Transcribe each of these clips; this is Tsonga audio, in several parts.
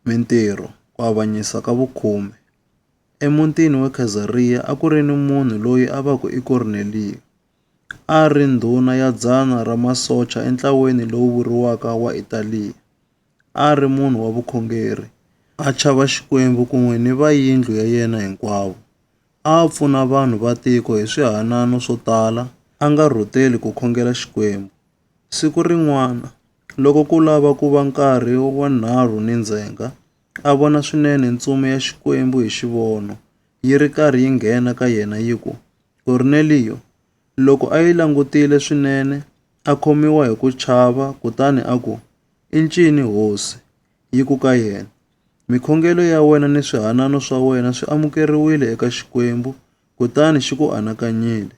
Mintirho, Ku avanyisa ka vukhume. Emutini wa Khazariya a ku ri ni munhu loyi a va ku i Korneliyo. A a ri ndhuna ya dzana ra masocha entlaweni lowu vuriwaka wa Italiya. A a ri munhu wa vukhongeri, a chava Xikwembu kun'we ni va yindlu ya yena hinkwavo. A a pfuna vanhu va tiko hi swihanano swo tala, a nga rhuteli ku khongela Xikwembu. Siku rin'wana, loko ku lava ku va nkarhi wa nharhu ni ndzhenga, a vona swinene ntsumi ya Xikwembu hi xivono, yi ri karhi yi nghena ka yena yi ku, Korneliyo! Loko a yi langutile swinene, a khomiwa hi ku chava kutani a ku, I ncini, Hosi? Yi ku ka yena, Mikhongelo ya wena ni swihanano swa wena swi amukeriwile eka Xikwembu, kutani xi ku anakanyile.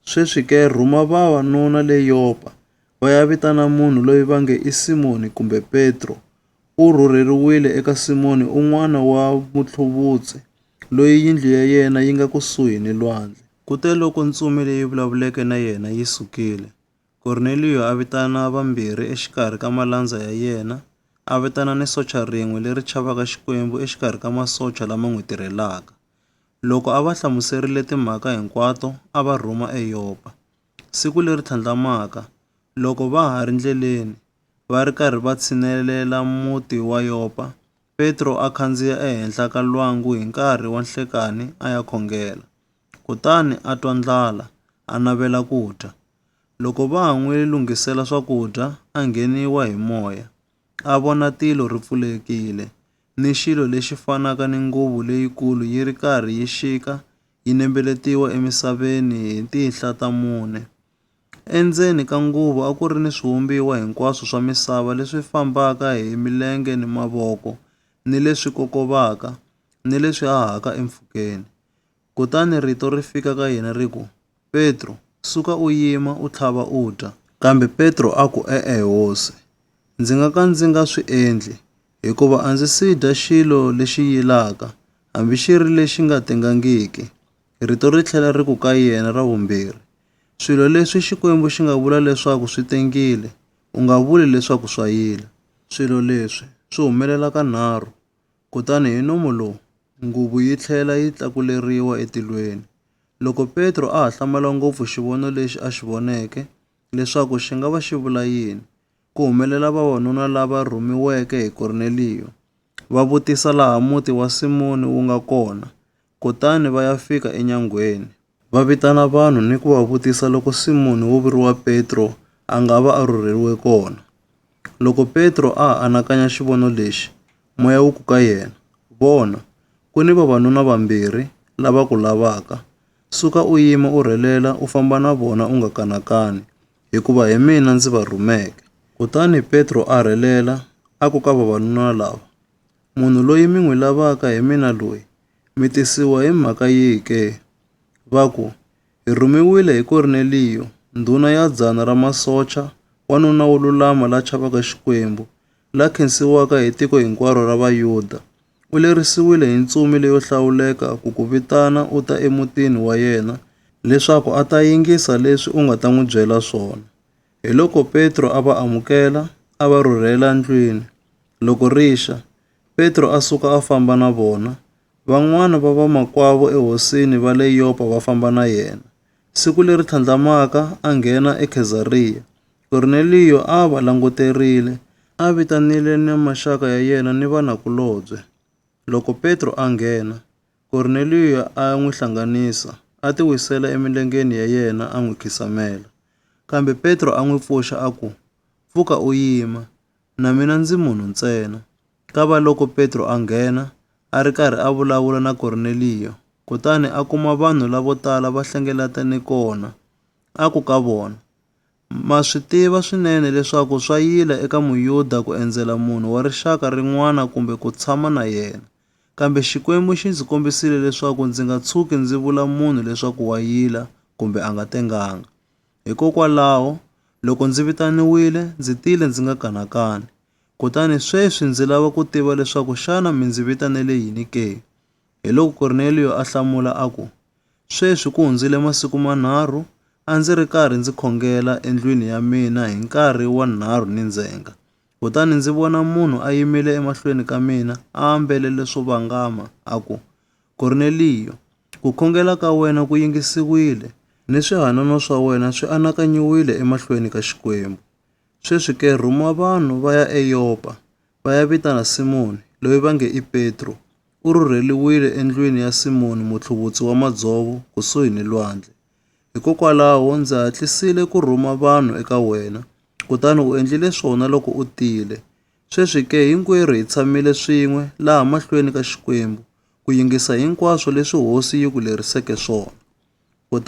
Sweswi ke, rhuma vavanuna le Yopa, va ya vitana munhu loyi va nge i Simoni kumbe Petro. U rhurheriwile eka Simoni un'wana wa mutlhuvutsi, loyi yindlu ya yena yi nga kusuhi ni lwandle. Kuteloko ntsumi leyi vulavuleke na yena yi sukile, Korneliyo a vitana vambirhi exikarhi ka malandza ya yena, a vitana ni socha rin'we leri chavaka Xikwembu exikarhi ka masocha lama n'wi tirhelaka. Loko a va hlamuserile timhaka hinkwato, a va rhuma eYopa. Siku leri tlhandlamaka, loko va ha ri ndleleni, va ri karhi va tshinelela muti wa Yopa, Petro a khandziya ehenhla ka lwangu hi nkarhi wa nhlekani a ya khongela. Kutani a twa ndlala, a navela ku dya. Loko va ha n'wi lunghisela swakudya, a ngheniwa hi moya, a vona tilo ri pfulekile, ni xilo lexi fanaka ni nguvu leyikulu yi ri karhi yi xika yi nembeletiwa emisaveni hi tinhla ta mune. Endzeni ka nguvu a ku ri ni swivumbiwa hinkwaswo swa misava leswi fambaka hi milenge ni mavoko, ni leswi kokovaka, ni leswi hahaka empfhukeni. Kutani rito ri fika ka yena ri ku, Petro, suka u yima, u tlhava u dya. Kambe Petro a ku, E-e, Hosi, ndzi nga ka ndzi nga swi endli, hikuva a ndzi si dya xilo lexi yilaka, hambi xi ri lexi nga tengangiki. Rito ri tlhela ri ku ka yena ra vumbirhi, Swilo leswi Xikwembu xi nga vula leswaku swi tengile, u nga vuli leswaku swa yila. Swilo leswi swi humelela kanharhu. Kutani hi nomo lowu, nguvu yi tlhela yi tlakuleriwa etilweni. Loko Petro a ha hlamala ngopfu xivono lexi a xi voneke, leswaku xi nga va xi vula yini, ku humelela vavanuna lava rhumiweke hi Korneliyo, va vutisa laha muti wa Simoni wu nga kona, kutani va ya fika enyangweni. Va vitana vanhu ni ku va vutisa loko Simoni wo vuriwa Petro a nga va a rhurheriwe kona. Loko Petro a ha anakanya xivono lexi, moya wu ku ka yena, Vona, ku ni vavanuna vambirhi lava ku lavaka. Suka u yima u rhelela u famba na vona u nga kanakani, hikuva hi mina ndzi va rhumeke. Kutani Petro a rhelela a ku ka vavanuna lava, Munhu loyi mi n'wi lavaka hi mina loyi, mi tisiwa hi mhaka yihi ke? Va ku, Hi rhumiwile hi Korneliyo, ndhuna ya dzana ra masocha, wanuna wo lulama la chavaka Xikwembu, la khensiwaka hi tiko hinkwaro ra Vayuda. U lerisiwile hi ntsumi leyo hlawuleka ku ku vitana u ta emutini wa yena leswaku a ta yingisa leswi u nga ta n'wi byela swona. Hiloko Petro a va amukela, a va rhurhela ndlwini. Loko ri xa, Petro a suka a famba na vona, van'wana va vamakwavo ehosini va le Yopa va famba na yena. Siku leri tlhandlamaka a nghena eKhezariya. Korneliyo a a va languterile, a vitanile ni maxaka ya yena ni vanakulobye. Loko Petro a nghena, Korneliyo a n'wi hlanganisa, a tiwisela emilengeni ya yena a n'wi khisamela. Kambe Petro a n'wi pfuxa a ku, Pfuka u yima! Na mina ndzi munhu ntsena. Kavaloko Petro a nghena, a ri karhi a vulavula na Korneliyo, kutani a kuma vanhu lavo tala va hlengeletane kona, a ku ka vona, Ma swi tiva swinene leswaku swa yila eka Muyuda ku endzela munhu wa rixaka rin'wana kumbe ku tshama na yena, kambe Xikwembu xi ndzi kombisile leswaku ndzi nga tshuki ndzi vula munhu leswaku wa yila kumbe a nga tenganga. Hikokwalaho, loko ndzi vitaniwile, ndzi tile ndzi nga kanakani. Kutani sweswi ndzi lava ku tiva leswaku xana mi ndzi vitanele yini ke? Hiloko Korneliyo a hlamula a ku, Sweswi ku hundzile masiku manharhu a ndzi ri karhi ndzi khongela endlwini ya mina hi nkarhi wa nharhu ni ndzhenga, kutani ndzi vona munhu a yimile emahlweni ka mina a ambele leswo vangama, a ku, Korneliyo, ku khongela ka wena ku yingisiwile, ni swihanano swa wena swi anakanyiwile emahlweni ka Xikwembu. Sweswi ke rhuma vanhu va ya eYopa, va ya vitana Simoni, loyi va nge i Petro. U rhurheriwile endlwini ya Simoni mutlhuvutsi wa madzovo kusuhi ni lwandle. Hikokwalaho ndzi hatlisile ku rhuma vanhu eka wena, kutani u endlile swona loko u tile. Sweswi ke, hinkwerhu hi tshamile swin'we laha mahlweni ka Xikwembu, ku yingisa hinkwaswo leswi Hosi yi ku leriseke swona.